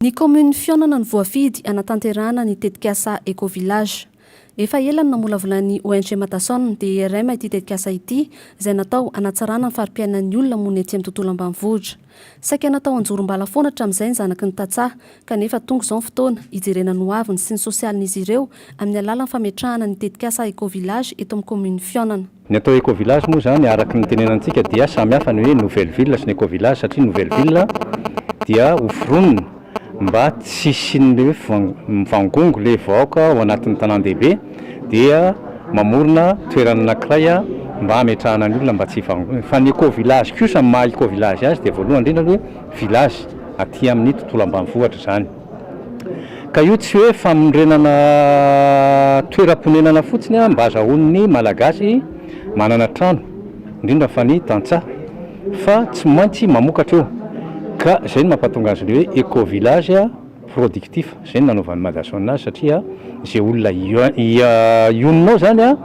Ny kaominin'i Fihaonana no voafidy hanatanterahana ny tetikasa Eco-Village. Efa ela no namolavolan'ny ONG Matason, DIRM ity tetikasa ity, izay natao hanatsarana ny fari-piainan'ny olona monina etsy amin'ny tontolo ambanivohitra. Saika natao hanjorom-bala foana hatramin'izay ny zanaky ny tantsaha, kanefa tonga izao ny fotoana hijerena ny hoaviny sy ny sosialin'izy ireo amin'ny alalan'ny fametrahana ny tetikasa Eco-Village eto amin'ny kaominin'i Fihaonana. Ny atao Eco-village moa izany araka ny itenenantsika dia samy hafa ny hoe Nouvelle Ville sy ny Eco-village satria ny Nouvelle Ville dia ho foronina mba tsy hisian'ilay hoe mivangongo ilay vahoaka ao anatin'ny tanàn-dehibe dia mamorona toerana anankiray mba hametrahana ny olona mba tsy hivangongo. Fa ny Eco-village kosa ny maha Eco-village azy dia voalohany indrindra aloha hoe village aty amin'ny tontolo ambanivohitra izany. Ka io tsy hoe fanorenana toeram-ponenana fotsiny an, mba azahoan'ny Malagasy manana trano, indrindra fa ny tantsaha, fa tsy maintsy mamokatra eo, ka izay no mampatonga azy ilay hoe Eco-village productif, izay no nanaovan'ny Madason azy, satria izay olona ionona ao izany an,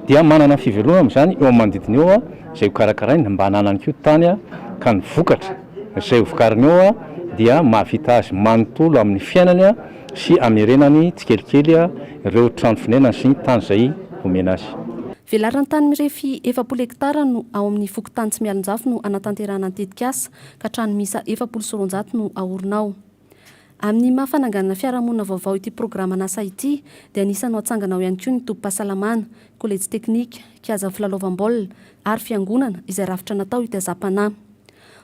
dia manana ny fivelomany amin'izany eo amin'ny manodidina eo, izay hokarakarainy, mba hananany koa tany ka ny vokatra. izay hovokariny eo dia mahavita azy manontolo amin'ny fiainany sy amerenany tsikelikely ireo trano fonenany sy ny tany izay omena azy. Velaran-tany mirefy efapolo hektara no ao amin'ny fokontany Tsimialonjafy no hanatanterahana ny tetikasa, ka trano miisa efapolo sy roanjato no haorina ao. Amin'ny maha fananganana fiarahamonina vaovao ity programan'asa ity dia anisan'ny ho atsangana ao ihany koa ny tobim-pahasalamana, kolejy teknika, kiaza filalaovam-baolina ary fiangonana izay rafitra natao hitaizam-panahy.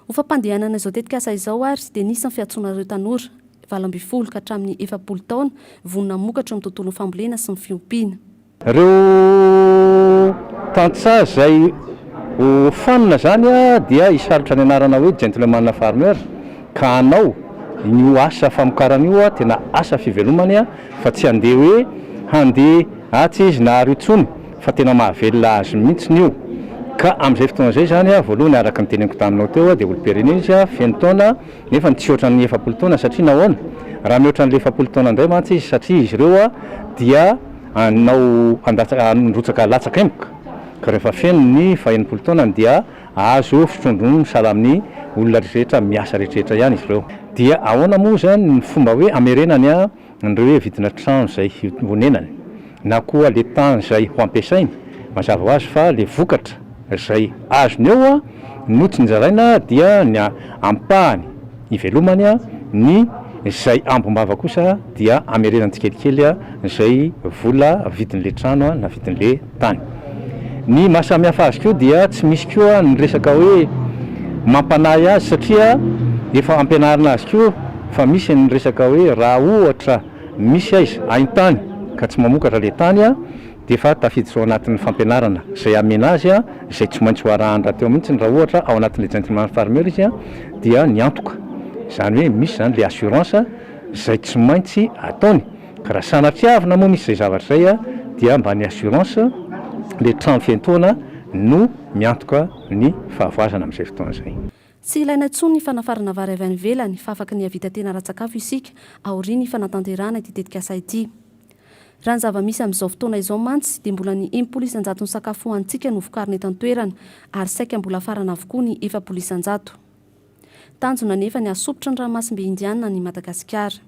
Ho fampandehanana izao tetikasa izao ary dia nisy ny fiantsoana ireo tanora valo ambin'ny folo ka hatramin'ny efapolo taona vonona hamokatra eo amin'ny tontolon'ny fambolena sy ny fiompiana. Ireo tantsaha izay ho fanina izany dia hisalotra ny anarana hoe Gentleman Farmer ka hanao an'io asa famokarana io tena asa fivelomany fa tsy handeha hoe handeha atsy izy na ary intsony fa tena mahavelona azy mihitsy io ka amin'izay fotoana izay izany voalohany araka ny teneniko taminao teo dia olom-pirenena izy feno taona nefa tsy hoatra ny efapolo taona satria nahoana? raha mihoatra ny efapolo taona indray mantsy izy satria izy ireo dia Anao handatsa- handrotsaka latsaka emboka, ka rehefa feno ny fahenimpolo taonany dia azo fitrondro ny sahala amin'ny olona rehetrarehetra miasa rehetrarehetra ihany izy ireo. Dia ahoana moa izany ny fomba hoe hamerenany an'ireo hoe vidina trano izay honenany na koa le tany izay ho ampiasainy? Mazava ho azy fa le vokatra izay azony eo no tsy nozaraina dia ny ampahany. Ivelomany ny izay ambom-bava kosa dia amerenany tsikelikely izay vola vidin'le trano na vidin'le tany. Ny maha samy hafa azy koa dia tsy misy koa ny resaka hoe mampanahy azy satria efa ampianarina azy koa fa misy ny resaka hoe raha ohatra misy aiza hain-tany ka tsy mamokatra le tany dia efa tafiditra ao anatin'ny fampianarana izay hamena azy, izay tsy maintsy ho arahany rahateo mihitsy raha ohatra ao anatin'ilay gentleman farmer izy dia niantoka, izany hoe misy izany ilay assurance izay tsy maintsy ataony ka raha sanatria avy namoa misy izay zavatra izay dia mba ny assurance ilay trano fiantohana no miantoka ny fahavoazana amin'izay fotoana izay. Tsy ilaina intsony ny fanafarana vary avy any ivelany fa afaka ny hahavita tena ara-tsakafo isika aorian'ny fanatanterahana ity tetikasa ity. Raha ny zava-misy amin'izao fotoana izao mantsy dia mbola ny enimpolo isan-jaton'ny sakafo hohanintsika no vokarina eto an-toerana ary saika mbola farana avokoa ny efapolo isan-jato. Tanjona anefa ny hahasompitra ny ranomasimbe Indiana an'i Madagasikara.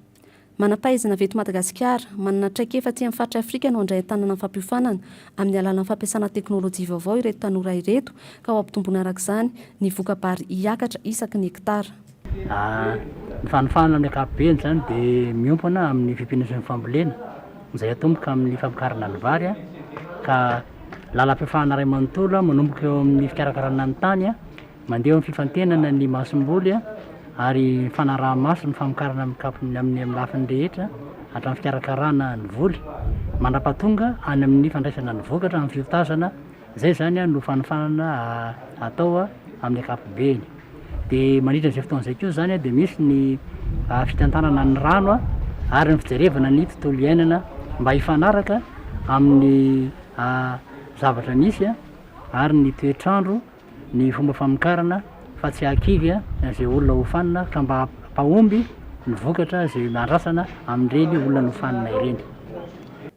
Manam-pahaizana avy eto Madagasikara, manana traikefa aty amin'ny faritr'i Afrika no handray an-tanana ny fampiofanana amin'ny alalan'ny fampiasana teknolojia vaovao ireto tanora ireto ka ho ampitomboina arak'izany ny voka-bary hiakatra isaky ny hektara. Ny fanofana amin'ny ankapobeny izany dia miompana amin'ny fimpiana sy ny fambolena izay atomboka amin'ny famokarana ny vary ka lalam-piofana iray manontolo manomboka eo amin'ny fikarakarana ny tany mandeha eo amin'ny fifantenana ny masomboly ary fanaraha-maso ny famokarana amin'ny kap- ny amin'ny lafiny rehetra hatramin'ny fikarakarana ny voly mandrapahatonga any amin'ny fandraisana ny vokatra amin'ny fiotazana Izay izany no fanofanana atao amin'ny ankapobeny. Dia mandritra izay fotoana izay koa izany dia misy ny fitantanana ny rano ary ny fijerevana ny tontolo iainana mba hifanaraka amin'ny zavatra misy ary ny toetr'andro, ny fomba famokarana fa tsy hahakivy izay olona hofanina fa mba hampahomby ny vokatra izay andrasana amin'ireny olona nofanina ireny.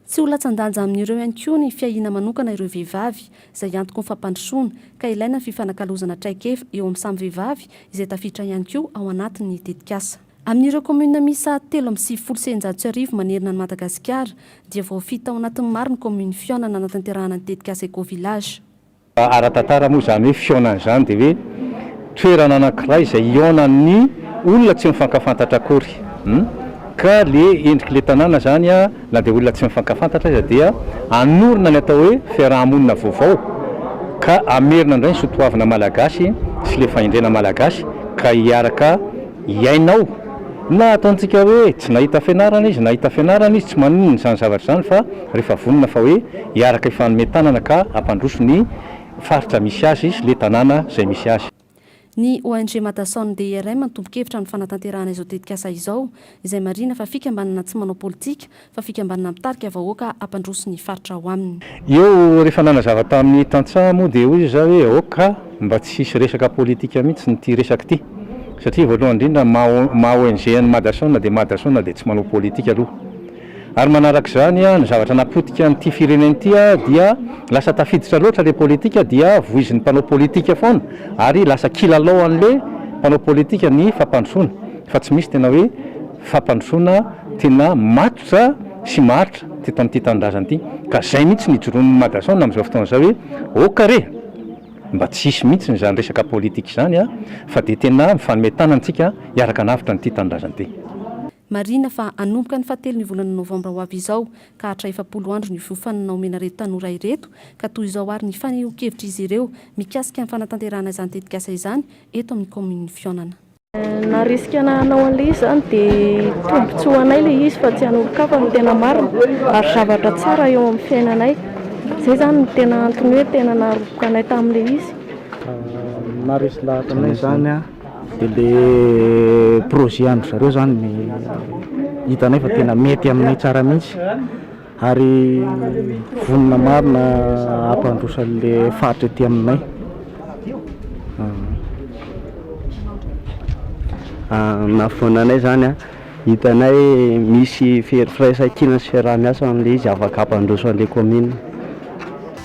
Tsy ho latsan-danja amin'ireo ihany koa ny fiahiana manokana ireo vehivavy, izay antoko ny fampandrosoana, ka ilaina ny fifanakalozana traikefa eo amin'ny samy vehivavy izay tafiditra ihany koa ao anatin'ny tetikasa. Amin'ireo kaominina miisa telo amby sivifolo sy eninjato sy arivo manerana an'i Madagasikara dia voafidy tao anatin'ny maro ny kaominy fihaonana nanatanterahana ny tetikasa Eco-Village. Raha ara-tantara moa izany hoe fihaonana izany dia hoe toerana anankiray izay hihaonan'ny olona tsy mifankafantatra akory. Ka le endrik'le tanàna izany na dia olona tsy mifankafantatra aza dia hanorina ny atao hoe fiaraha-monina vaovao ka hamerina indray ny soatoavina malagasy sy le fahendrena malagasy ka hiaraka hiaina ao. Na ataontsika hoe tsy nahita fianarana izy, nahita fianarana izy, tsy maninona izany zavatra izany fa Rehefa vonona fa hoe hiaraka hifanome tanana ka hampandroso ny faritra misy azy sy le tanàna izay misy azy. Ny ONG Madason DRM no tompon-kevitra amin'ny fanatanterahana izao tetikasa izao, izay marihina fa fikambanana tsy manao politika fa fikambanana mitarika vahoaka hampandroso ny faritra ao aminy. Eo rehefa nanazava tamin'ny tantsaha moa dia hoy izy zah hoe ok ka mba tsy hisy resaka politika mihitsy n'ity resaka ity satria voalohany indrindra maha maha ONG an'i Madason dia Madason dia tsy manao politika aloha Ary manaraka izany, ny zavatra napotika an'ity firenena ity dia lasa tafiditra loatra ilay politika dia voizin'ny mpanao politika foana ary lasa kilalaon'ilay mpanao politika ny fampandrosoana fa tsy misy tena hoe fampandrosoana tena matotra sy maharitra teto amin'ity tanindrazana ity ka zay mihitsy no ijoroan'ny Madason amin'izao fotoana izao hoe ok re mba tsy hisy mihitsy izany resaka politika izany fa dia tena mifanome tanana isika hiaraka hanavotra an'ity tanindrazana ity. Marihina fa hanomboka ny fahatelon'ny volana novambra ho avy izao ka hatra efapolo andro ny fiofanana homen'ireto tanora ireto ka toy izao ary ny fanehoan-kevitr'izy ireo mikasika ny fanatanterahana izany tetikasa izany eto amin'ny kaominin'i Fihaonana. Na risque na hanao an'ilay izy izany dia tombotsoa ho anay ilay izy fa tsy an'olon-kafa no tena marina ary zavatra tsara eo amin'ny fiainanay. Izay izany no tena antony hoe tena naroboka anay tamin'ilay izy. Maharesy lahatra anay izany. Dia ilay projet an-dry zareo izany no hitanay fa tena mety aminay tsara mihitsy ary vonona marina hampandroso an'ilay faritra ety aminay. Nahafoana anay izany an, hitanay misy firaisankina sy fiaraha-miasa amin'ilay izy afaka hampandroso an'ilay kaominina.